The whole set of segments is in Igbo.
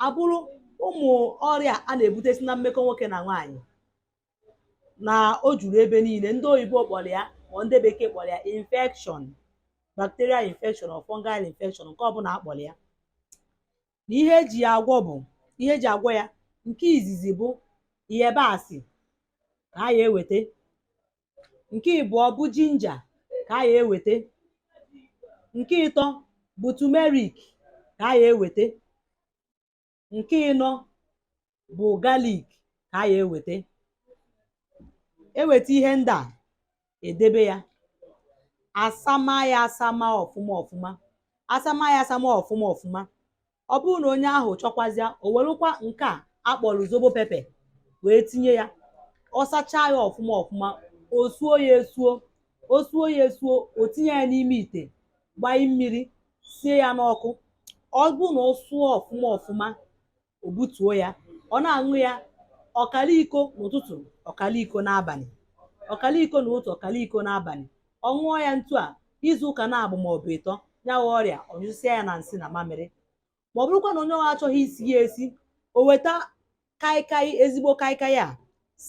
abụrụ ụmụ ọrịa a na-ebute si na mmekọ nwoke na nwaanyị na o juru ebe niile ndị oyibo kpọrọ ya ma ndị bekee kpọrọ ya infection bacterial infection or fungal infection nke ọbụla a kpọrọ ya na ihe eji ya agwọ bụ ihe eji agwọ ya nke izizi bụ yabasị ka a ya eweta nke ịbụọ bụ jinja ka a ya eweta nke ịtọ bụ tumerik ka a ya eweta nke ịnọ bụ galik ka a ya eweta eweta ihe ndị a edebe ya asama ya asama ọfụma ọfụma asama ya asama ọfụma ọfụma ọ bụrụ na onye ahụ chọkwazịa o werukwa nke a akpọrọ zobo pepe wee tinye ya ọ sachaa ya ọfụma ọfụma o suo ya esuo o suo ya esuo o tinye ya n'ime ite gbanye mmiri sie ya n'ọkụ ọ bụrụ na ọ sụọ ọfụma ọfụma o butuo ya ọ na-aṅụ ya ọkara iko n'ụtụtụ ọkara iko n'abalị ọkara iko n'ụtụtụ ọkara iko n'abalị ọ ṅụọ ya ntu a izu ụka naabụ ma ọ bụ ịtọ ya wụ ọrịa ọ nyụsịa ya na nsị na mamịrị ma ọ bụrụkwa na onye ọha achọghị isi ya esi o weta kaikai ezigbo kaikai a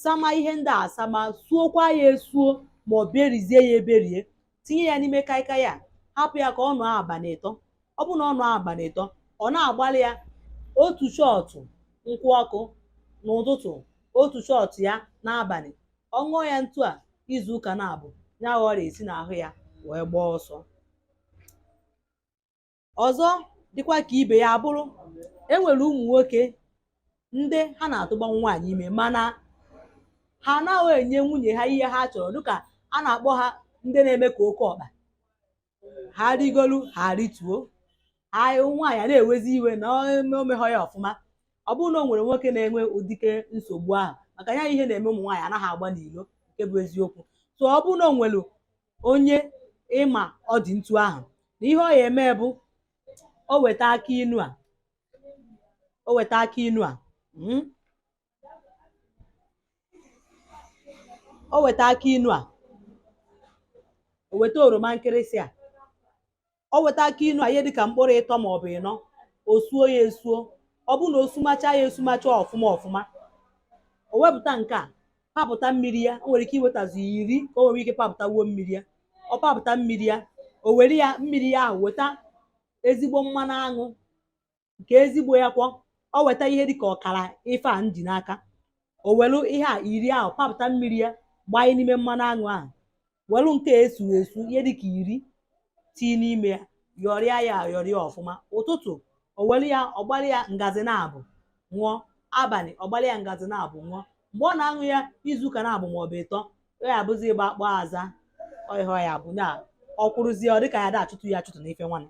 sama ihe ndị a asama suokwa ya esuo ma o berizie ya eberie tinye ya n'ime kaikai a hapụ ya ka ọ nọọ abalị ịtọ ọ bụrụ na ọ nọọ abalị ịtọ ọ na-agbalị ya otu shot nkwụ ọkụ n'ụtụtụ otu shot ya n'abalị ọ ṅụọ ya ntu a izu ụka naabụ ya wụ ọrịa esi n'ahụ ya wee gbaa ọsọ ọzọ dịkwa ka ibe ya abụrụ enwere ụmụ nwoke ndị ha na-atụgba nwaanyị ime mana ha anaghị enye nwunye ha ihe ha chọrọ dịka a na-akpọ ha ndị na-eme ka oke ọkpa ha rigolu ha arituo nwaanyị a na-ewezi iwe na omeghọ ya ọfụma ọ bụrụ na o nwere nwoke na-enwe ụdịke nsogbu ahụ maka ya ihe na-eme ụmụ nwaanyị anaghị agba n'ilo nke bụ eziokwu so ọ bụrụ na o nwere onye ị ma ọ dị ntu ahụ na ihe ọ ya eme bụ o weta akị inu a o weta akị inu a mm, o weta akị inu a o weta oroma nkịrịsị a o weta akị inu a ihe dịka mkpụrụ ịtọ ma ọ bụ ịnọ o suo ya esuo ọ bụrụ na o sumacha ya esumacha ọfụma ọfụma o wepụta nke a papụta mmiri ya o nwere ike iwetazu ya iri ka o nwere ike papụtawuo mmiri ya ọ papụta mmiri ya o were ya mmiri ya ahụ weta ezigbo mmanụ aṅụ nke ezigbo ya kwọ o weta ihe dịka ọkara ife a m ji n'aka o welu ihe a iri ahụ papụta mmiri ya gbanye n'ime mmanụ aṅụ ahụ welu nke e suru esu ihe dịka iri tii n'ime ya yọrịa ya ayọrịa ọfụma ụtụtụ o welu ya ọ gbalị ya ngazi naabọ ṅụọ abalị ọ gbalị ya ngazi naabọ ṅụọ mgbe ọ na-aṅụ ya izu ụka naabọ maọbụ ịtọ ọ ya-abụzi ịgba akpọ aza ọhịa ya bụ na ọ kwụrụzie ọ dịka ya da achụtụ ya achụtụ n'ife nwanne